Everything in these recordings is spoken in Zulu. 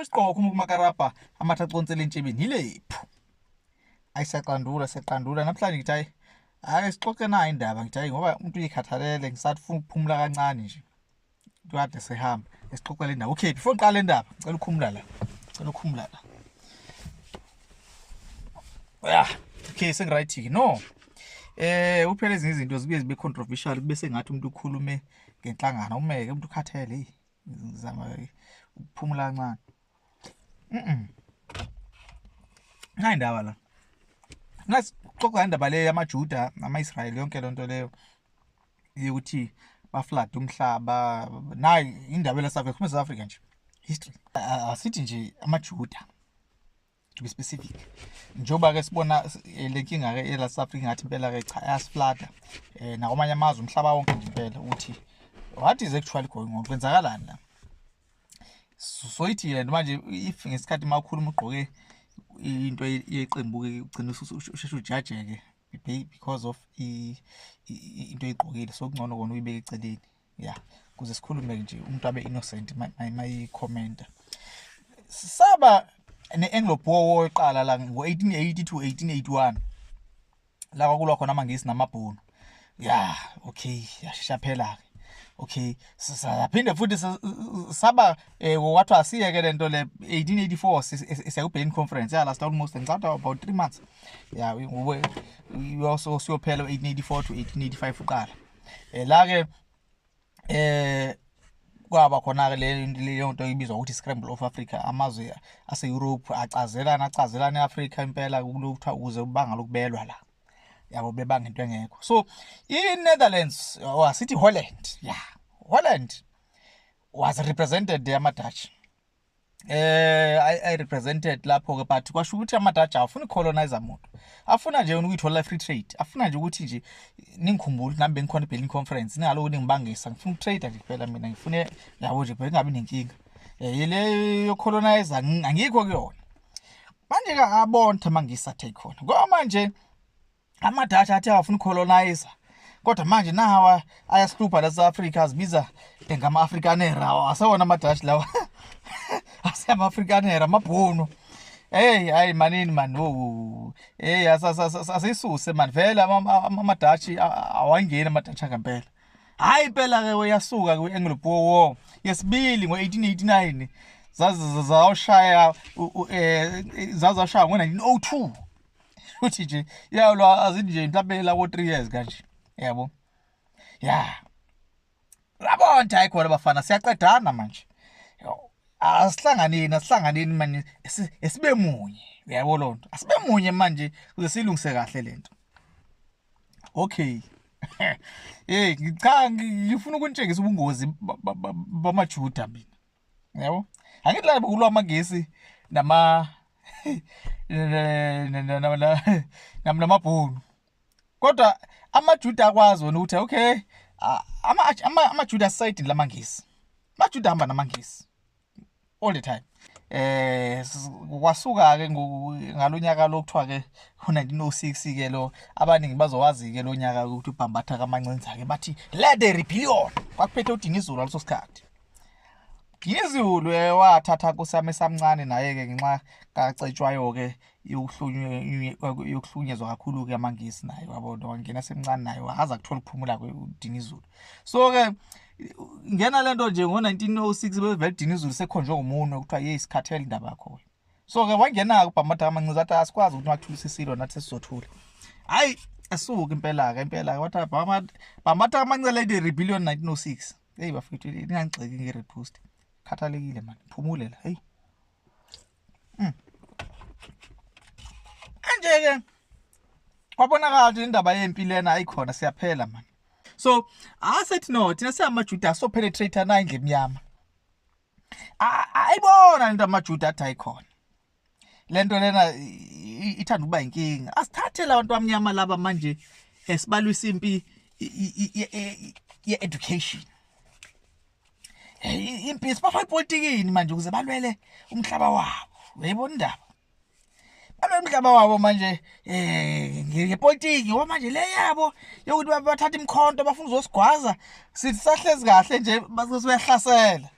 Isiqoko uma kumakarabha amatha aconsela entshebeni yilephu. Ayisaqandula seqandula namhlanje ngithi hayi hayi sixoxe nayo indaba ngithi hayi ngoba umuntu uyikhathalele ngisathi ufuna ukuphumula kancane nje. Kade sehamba esixoxela indaba. Okay before ngiqale indaba ngicela ukhumula la. Ngicela ukhumula la. Yeah. Okay sengiright ke no. Eh uphela ezinye izinto zibuye zibe controversial bese ngathi umuntu ukhulume ngenhlangano umeke umuntu ukhathele hey. ngizama ukuphumula kancane mhm hayi ndaba la ngathi xoxa indaba le yamaJuda namaIsrayeli yonke lonto leyo yokuthi baflada umhlaba nayi indaba la South Africa South Africa nje history asithi nje amaJuda to be specific njengoba ke sibona eh, le nkinga ke ela South Africa ngathi impela ke cha ayasiflada eh nakwamanye amazwe umhlaba wonke nje impela ukuthi what is actually going on kwenzakalani la soyithi yena manje if ngesikhathi makhulu umugqoke into yeqembu ke ugcina usheshe ujajeke because of into oyigqokile so kungcono kona uyibeke eceleni ya kuze sikhulume nje umuntu abe innocent mayikhomenta saba ne-anglo boer war eqala la ngo-1880 to 1881 la kwakulwa khona amangisi namabhunu ya okay yashesha phela-ke okay saphinde futhi saba eh, kwathiwa asiyeke le nto le 1884 siyakubhekeni conference ya last almost ngicabanga about three months ya siyophela 1884 to 1885 uqala eh la ke eh kwaba khona ke leyo nto ibizwa ukuthi scramble of Africa amazwe ase Europe acazelana acazelana eAfrica impela kulutha ukuze ubanga lokubelwa la yabo bebanga into engekho so iNetherlands wasithi oh, Holland yeah Holland was represented there ama Dutch eh I, I represented lapho ke but kwasho ukuthi amadaja afuna colonizer muntu afuna nje ukuyithola free trade afuna nje ukuthi nje ningikhumbule nami bengikhona eBelling conference ningaloku ningibangisa ngifuna ukutrade nje kuphela mina ngifune yabo nje phela ngabe nenkinga eh le yo colonizer angikho kuyona manje ke abonthe mangisa take khona ngoba manje Amadashi athi awafuna ucolonizer kodwa manje nawa ayasilupha la South Africa azibiza ngama Afrikaner asewona amadashi lawa asiyama Afrikaner amabhunu Hey hayi manini man oh hey asisuse man vele amadashi awangeni amadashi ngempela hayi impela ke uyasuka ku Anglo Boer War yesibili ngo1889 zaze zawushaya eh, zazashaya ngo1902 uthi nje ya lo azithi nje mhlawumbe la ko 3 years kanje yabo ya yabo nje ayikhona bafana siyaqedana manje asihlanganeni asihlanganeni manje esibe munye uyabo lonto asibe munye manje kuze silungise kahle lento okay hey ngicanga ngifuna ukuntshengisa ubungozi bamajuda mina yabo angithi la kulwa amagesi nama namabhunu kodwa amajuda akwazi wona ukuthi okay amajuda asayidini lamangisi amajuda ahamba namangisi all the time eh kwasuka ke ngalonyaka lokuthiwa ke u1906 ke lo abaningi bazowazi ke lonyaka ukuthi ubhambatha kamancinza ke bathi let the rebellion kwakuphethe udinga izulu leso sikhathi Ngizulu wathatha kusami samncane naye ke ngenxa kacetshwayo ke yokuhlunyezwa kakhulu ke amangisi naye wabona wangena semncane naye wahaza kuthola ukuphumula kweDinizulu so ke ngena lento nje ngo1906 bevele Dinizulu sekhonjwe ngomuntu okuthiwa hey sikhathele indaba yakho so ke wangena ke ubhamada kamancinza athi asikwazi ukuthi wathulisa isilo nathi sizothula hayi asuke impela ke impela ke wathi bhamada kamancinza lady rebellion 1906 Hey bafethu ningangixeki nge repost. Khathalekile man. Phumule la. Hey. Mm. Anje ke kwabonakala ukuthi indaba yempi lena ayikhona siyaphela man. So asethi no thina siyamaJuda so penetrate na indle emnyama. Ayibona into amaJuda athi ayikhona. lento lena ithanda ukuba inkinga asithathele abantu bamnyama laba manje esibalwisa impi ye-education impi sibafaka epolitikini manje ukuze balwele umhlaba wabo uyayibona indaba balwele umhlaba wabo manje um ngepolitiki ngoba manje le yabo yokuthi bathatha imikhonto bafuna uzosigwaza sithi sahlezi kahle nje uyahlasela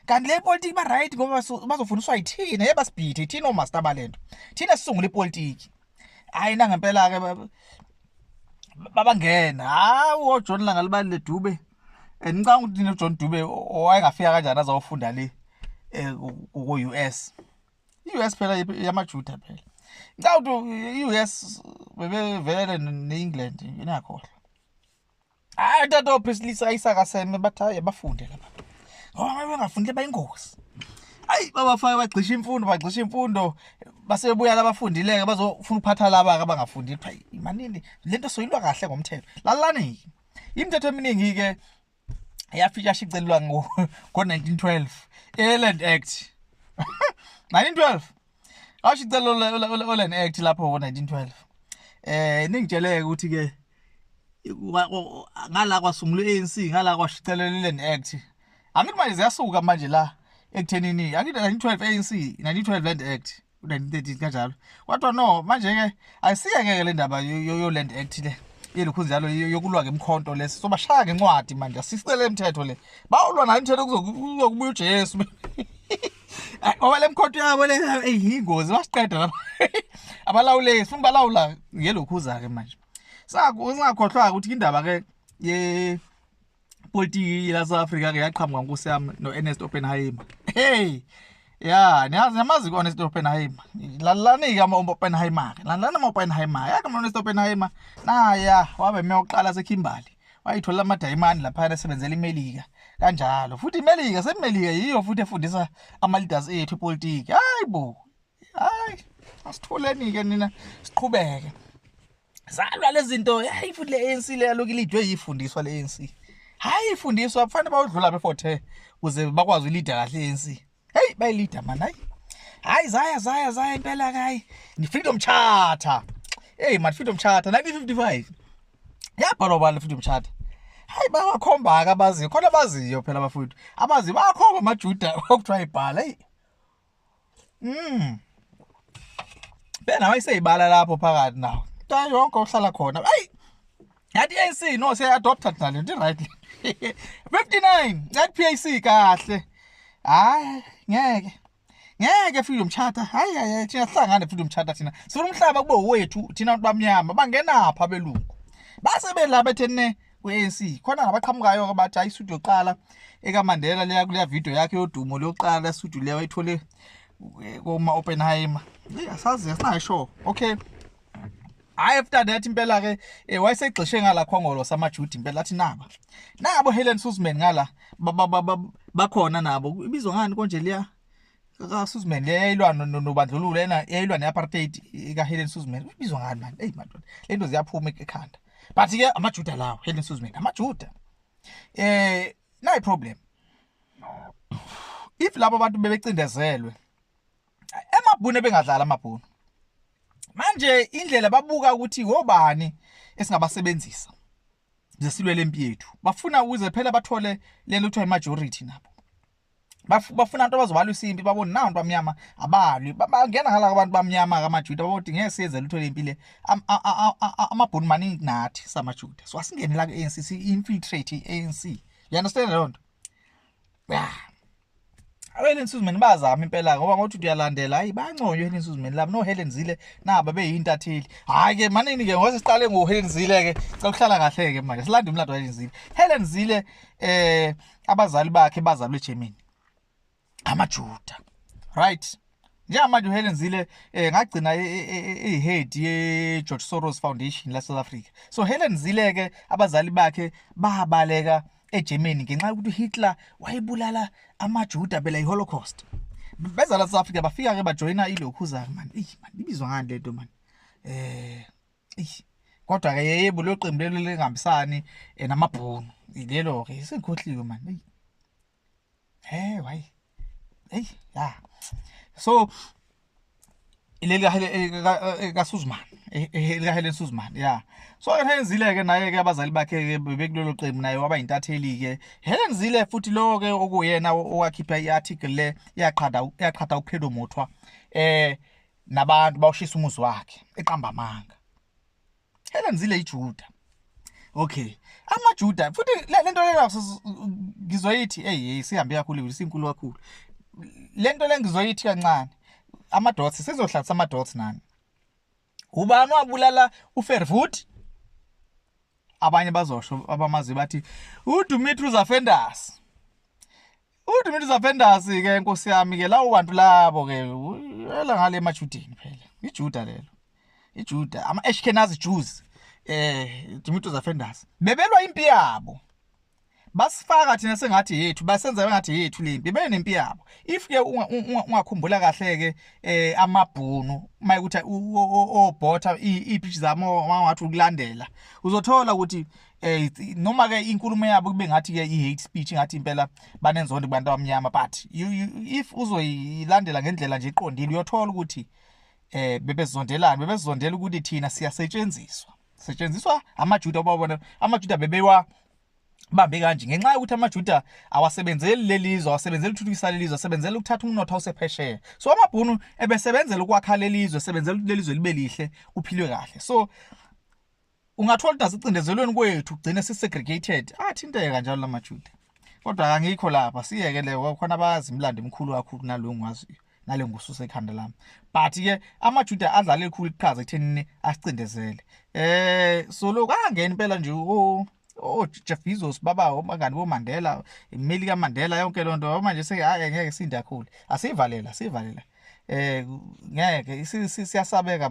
kanti le politiki ba right ngoba bazofundiswa yithina yeba sibhithe thina omaster balento thina sisungula ipolitiki hayi na ngempela ke babangena hawu oJohn langa libali ledube and ngicanga ukuthi no John Dube owayengafika kanjani azawufunda le eh, ku US iUS phela yamaJuda phela ngicanga ukuthi iUS bebevele neEngland inakhohle hayi tata ophisilisa isakaseme bathi hayi abafunde laba ngoba bengafundile bayingozi ayi babafake bagxisha imfundo bagxisha imfundo basebebuya labafundileke bazofuna ukuphatha laba-ke abangafundile kuthiwa imanini le nto soyilwa kahle ngomthetho lalani-ke imithetho eminingi-ke yafika shicelelwa ngo-1912 i-land act 1912 Asho icela olan act lapho ngo 1912. Eh ningitsheleke ukuthi ke ngala kwasungula ANC ngala kwashicelela iLand Act. Angithi manje ziyasuka manje la ekuthenini angithi 1912 ANC 1912 Land Act 1913 kanjalo. Kodwa no manje ke ayisiyeke le ndaba yo Land Act le. yelokhu njalo yokulwa ngemkhonto lesi sobashaya ngencwadi manje asisele imithetho le bawulwa nayo imithetho kuzokubuya uJesu Ngoba lemkhotho yabo le eyingozi basiqeda lapha. Abalawuleki sifuna balawula ngelokhuza ke manje. Saku singakhohlwa ukuthi indaba ke ye politiki la South Africa ke yaqhamuka nkosi yami no Ernest Oppenheimer. Hey. Ya, niyazi namazi kona Ernest Oppenheimer. Lalani ke ama Oppenheimer. Lalani ama Oppenheimer. Yaka Ernest Oppenheimer. Na ya, wabe meyoqala seKhimbali. wayitholela amadayimani laphana esebenzela imelika kanjalo futhi imelika semelika yiyo futhi efundisa ama-leaders ethu ipolitiki hayi bo hayi asithuleni-ke nina siqhubeke zalwa lezi zinto hayi futhi le-anc le yaloku ilidwe yifundiswa le-anc hhayi ifundiswa kufanele bawudlula befothe kuze bakwazi ulida kahle i-anc Hey bay leader man hayi. Hayi zaya zaya zaya impela kayi. Ni freedom charter. Hey man freedom charter 1955. Yabhalwa bani freedom charter? hayi bawakhomba ke abaziyo khona abaziyo phela bafowethu abaziyo bayakhomba amajuda okuthiwa ibhala eyi mm bena wayiseyibala lapho phakathi nawo nto yonke ohlala khona ayi yathi ANC no se adopted nalo ndi right 59 yathi PAC kahle hayi ngeke ngeke freedom charter hayi hayi thina sihlangane freedom charter thina sifuna umhlaba kube wethu thina abantu bamnyama bangenapha belungu base belapha ethene kwe-ANC khona ngabaqhamukayo ke bathi ayisudu yokuqala ekaMandela leya kuleya video yakhe yodumo lokuqala isudu leyo ayithole eh, koma Oppenheimer asazi asinasho okay hayi after that impela ke eh, wayesegxishe ngala khongolo samajudi impela athi naba nabo Helen Suzman ngala bakhona nabo ibizwa ngani konje liya ka Suzman leyilwa nobandlululo ena yayilwa neapartheid ka Helen Suzman ibizwa ngani manje hey madoda lento ziyaphuma ekhanda but ke amajuda lawo Helen Suzman amajuda eh nayi problem if labo bantu bebecindezelwe emabhunu ebengadlala amabhunu manje indlela babuka ukuthi wobani esingabasebenzisa zesilwele impi yethu bafuna ukuze phela bathole lento kuthiwa i-majority nabo bafuna abantu abazobalwisa impi babone nabantu bamnyama abalwi bangena ngala abantu bamnyama kamajuda baboti ngeke siyenze lutho lempi le amabhuni maningi nathi samajuda so asingene la ku-anc si-infiltrate i-anc you understand loo nto ya abeleni suzimeni bazama impela ngoba ngothi uyalandela hayi banconywe Helen suzimeni labo no Helen Zile naba beyintatheli hayi ke manini ke ngoba siqale ngo Helen Zile ke cela ukuhlala kahle ke manje silanda umlando wa Helen Zile Helen Zile eh abazali bakhe bazalwe eGermany amaJuda right njengamanje uhelen zile um eh, ngagcina i-head e, e, e, ye-george soros foundation lasouth africa so helen zile-ke abazali bakhe babaleka egermany ngenxa yokuthi uhitler wayebulala amajuda bela i-holocaust beza la south africa bafika-ke bajoyina ilokhuzake mani eyi mani ibizwa ngani le nto mani um eh, eyi kodwa-ke yeyebo lelo qembu lelo lingahambisani um namabhunu lelo-ke sengikhohliwe mani eyi hey why hey ya so ileli kahele kasuzman elikaheleni suzman ya so helen zile ke naye ke abazali bakhe ke bekulelo qembu naye waba intatheli ke helen zile futhi lowo ke okuyena owakhipha i-article le yaqhada yaqhada uphelo mothwa eh nabantu bawushisa umuzi wakhe eqamba amanga Elamzile iJuda. Okay. AmaJuda futhi lento lena ngizoyithi hey sihambe kakhulu isinkulu kakhulu. Lento le ngizoyithi kancane. Amadots sizohlalisa amadots nani? Ubani wabulala uFervood? Abanye bazosho abamazi bathi uDumitru Zafendas. Udumithi zavendasi ke nkosi yami ke lawo bantu labo ke yela ngale emajudeni phela. IJuda lelo. IJuda ama Ashkenazi Jews eh Dumithi zavendasi. Bebelwa impi yabo. Basifaka thina sengathi yethu basenza ngathi yethu lempi benempi yabo. If ke ungakhumbula kahle ke eh amabhunu uma ukuthi obhotha ipichi zamo wangathi ukulandela uzothola ukuthi eh noma ke inkulumo yabo kube ngathi ke i-hate speech ngathi impela banenzondo kubantu abamnyama but you, you, if uzoyilandela ngendlela nje iqondile uyothola ukuthi eh bebezondelana bebezondela ukuthi thina siyasetshenziswa setshenziswa amajuda obabona amajuda bebewa bambe kanje ngenxa yokuthi amajuda awasebenzeli lelizwe awasebenzeli ukuthuthukisa lelizwe asebenzela ukuthatha umnotho osephesheya so amabhunu ebesebenzela ukwakha lelizwe sebenzela ukuthi lelizwe libe lihle kuphilwe kahle so ungathola ukuthi asicindezelweni kwethu kugcine sisegregated athinteke kanjalo la majuda kodwa kangikho lapha siyeke le khona abazi imlando emkhulu kakhulu kunaloyo ngwaziyo nale ngususa ekhanda lami but ke amajuda adlala elikhulu iqhaza ekuthenini asicindezele eh so lokho angena impela nje o o Jeff Bezos baba obangani bo Mandela imili ka Mandela yonke lonto manje seke hayi ngeke sindakhulu asivalela sivalela eh ngeke siyasabeka